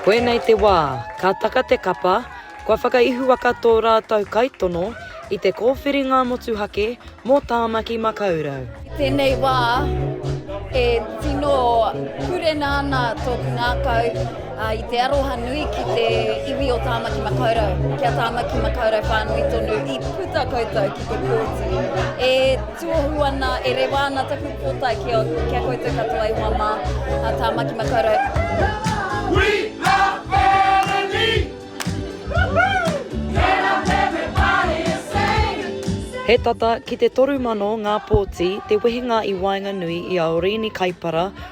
Koinei te wā, ka taka te kapa, kua whakaihuwaka tō rātou kaitono i te kōwhiringa motuhake mō Tāmaki Makaurau. I tēnei wā, e tino purena ana tōku ngākau. I te aroha nui ki te iwi o Tāmaki Makaurau, ki a Tāmaki Makaurau whānui tonu, i puta koutou ki te kōti. E tuohu ana, e rewa ana taku pōtae ki a, ki a koutou katoa i hoa mā, a Tāmaki Makaurau. We are family! He tata ki te toru mano ngā pōti te wehenga i waenganui i a Orīni Kaipara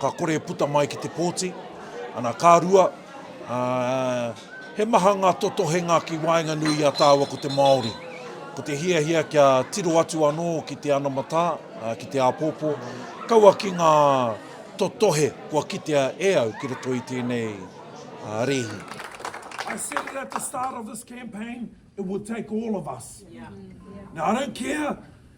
ka kore e puta mai ki te pōti. Ana, ka rua, ā, he maha ngā totohenga ki waenganui i a tāua ko te Māori. Ko te hiahia kia tiro atu anō ki te anamatā, ā, ki te āpōpō, kaua ki ngā totohe kua kitea e au ki roto i tēnei, ā, rēhi. I said it at the start of this campaign, it would take all of us. Now, I don't care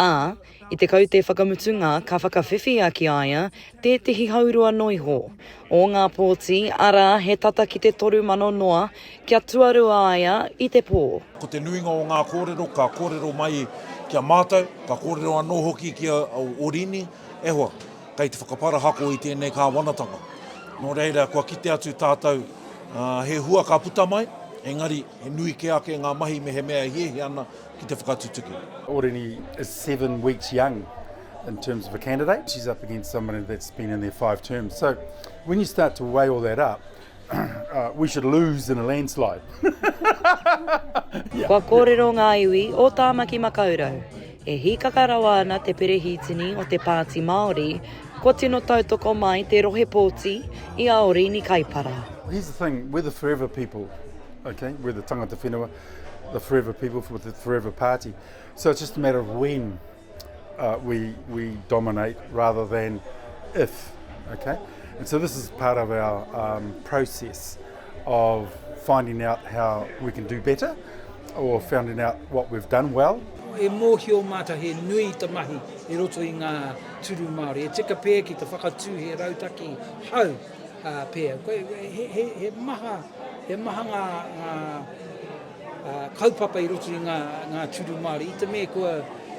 Ā, i te kaute whakamutunga ka whakawhiwhia ki a ia tētehi hau roa noa iho, o ngā pōti, arā, he tata ki te toru mano noa, kia tuarua a ia i te pō. Ko te nuinga o ngā kōrero ka kōrero mai ki a mātou, ka kōrero anō hoki ki a Orini, e hoa, kei te whakaparahako i tēnei kāwanatanga. Nō reira, kua kite atu tātou, ā, he hua ka puta mai, engari, he nui kē ake ngā mahi mehemea e hiahia ana ki te whakatutuki. Orini is seven weeks young in terms of a candidate. She's up against somebody that's been in there five terms. So when you start to weigh all that up, uh, we should lose in a landslide. yeah. Kua kōrero ngā iwi o Tāmaki Makaurau. E hīkaka rawa ana te perehītini o te Pāti Māori, kua tino tautoko mai te rohe pōti i a Orini Kaipara. Here's the thing, we're the forever people, okay? We're the tangata whenua. the forever people for the forever party. So it's just a matter of when uh, we, we dominate rather than if. Okay? And so this is part of our um, process of finding out how we can do better or finding out what we've done well. E mōhio māta he nui ta mahi i roto i ngā turu Māori. E tika pē ki te whakatū he rautaki hau Pea, he maha ngā kaupapa i roto i ngā tūru Māori. I te mea kua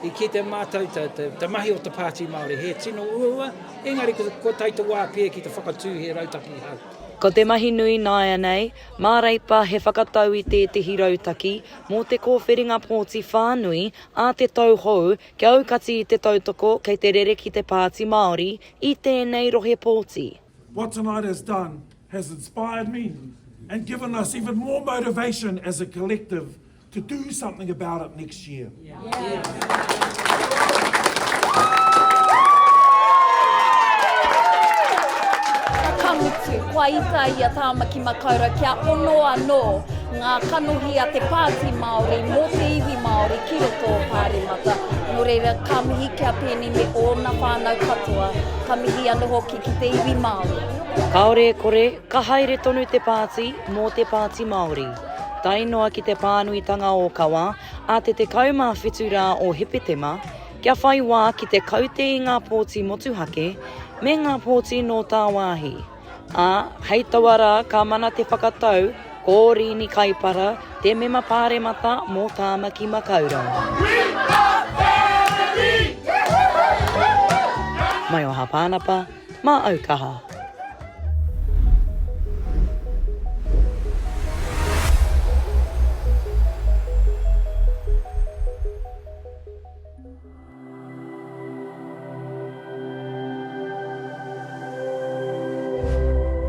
i kitea mātou te mahi o te Pāti Māori, he tino uaua, engari kua tae te wā pea ki te whakatū he rautaki hou. Ko te mahi nui nāianei, mā Reipa he whakatau i tētehi rautaki mō te kōwhiringa pōti whānui a te tau hou kia aukati i te tautoko kei te rere ki te Pāti Māori i tēnei rohe pōti. What tonight has done has inspired me and given us even more motivation as a collective to do something about it next year. Ka mutu, kua ita ia Tāmaki Makaurau kia ono anō. Ngā kanohi a te Pāti Māori mō te iwi Māori ki roto o Pāremata. Nō reira, ka mihi ki a Peeni me ōna whānau katoa, ka mihi anō hoki ki te iwi Māori. Kāore e kore, ka haere tonu te Pāti mō te Pāti Māori. Tae noa ki te pānuitanga ōkawa a te 17 rā o Hepetema, kia whai wā ki te kaute i ngā pōti motuhake me ngā pōti nō tāwāhi. Ā, hei taua rā ka mana te whakatau ko Rini Kaipara, te Mema Pāremata mō Tāmaki Makaurau. Mai o Hāpānapa, mā au kaha.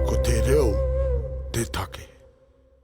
Ko te reo te take.